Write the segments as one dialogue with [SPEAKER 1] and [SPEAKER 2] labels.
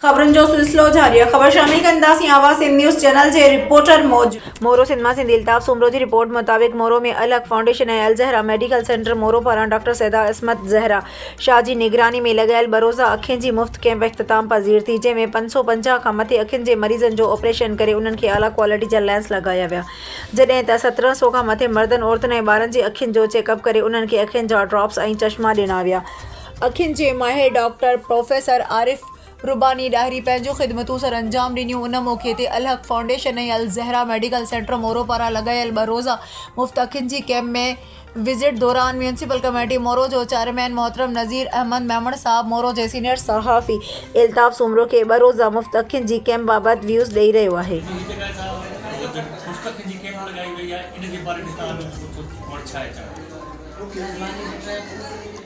[SPEAKER 1] خبرن جو سلسلو جاري آهي خبر شامل ڪنداسين آواز سنڌ نيوز چينل جي رپورٽر موجب. مورو سنڌ مان سنڌي الطاف سومرو جي رپورٽ مطابق Moro ۾ Alhaq foundation ۽ Alzahra medical centre Moro پاران ڊاڪٽر سيده عصمت زهره شاهه جي نگراني ۾ لڳايل بروزا اکين جي مفت ڪئمپ اختتام پذير ٿي جنهن ۾ پنج سؤ پنجاهه کان مٿي اکين جي مريضن جو آپريشن ڪري انهن کي اعليٰ ڪوالٽي جا لينس لڳايا ويا جڏهن ته سترهن سؤ کان مٿي مردن عورتن ۽ ٻارن جي اکين جو چيڪ اپ ڪري انهن کي اکين جا ڊراپس ۽ چشما ڏنا ويا. اکين جي ماهر ڊاڪٽر پروفيسر عارف رباني ڏاهري پنهنجون خدمتون سر انجام ڏنيون ان موقعي تي Alhaq foundation ۽ Alzahra medical centre Moro پاران لڳايل ٻه روزه مفت اکين جي ڪئمپ ۾ وزٽ دوران ميونسپل ڪميٽي مورو جو چيئرمين محترم نذير احمد ميمڻ صاحب مورو جي سينيئر صحافي الطاف سومرو کي ٻه روزه مفت اکين جي ڪئمپ بابت ويوز ڏئي رهيو آهي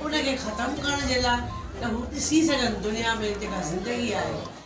[SPEAKER 2] ان کي ختم ڪرڻ جي لاء ته هو ڏسي سگهن دنيا ۾ جيڪا زندگي آهي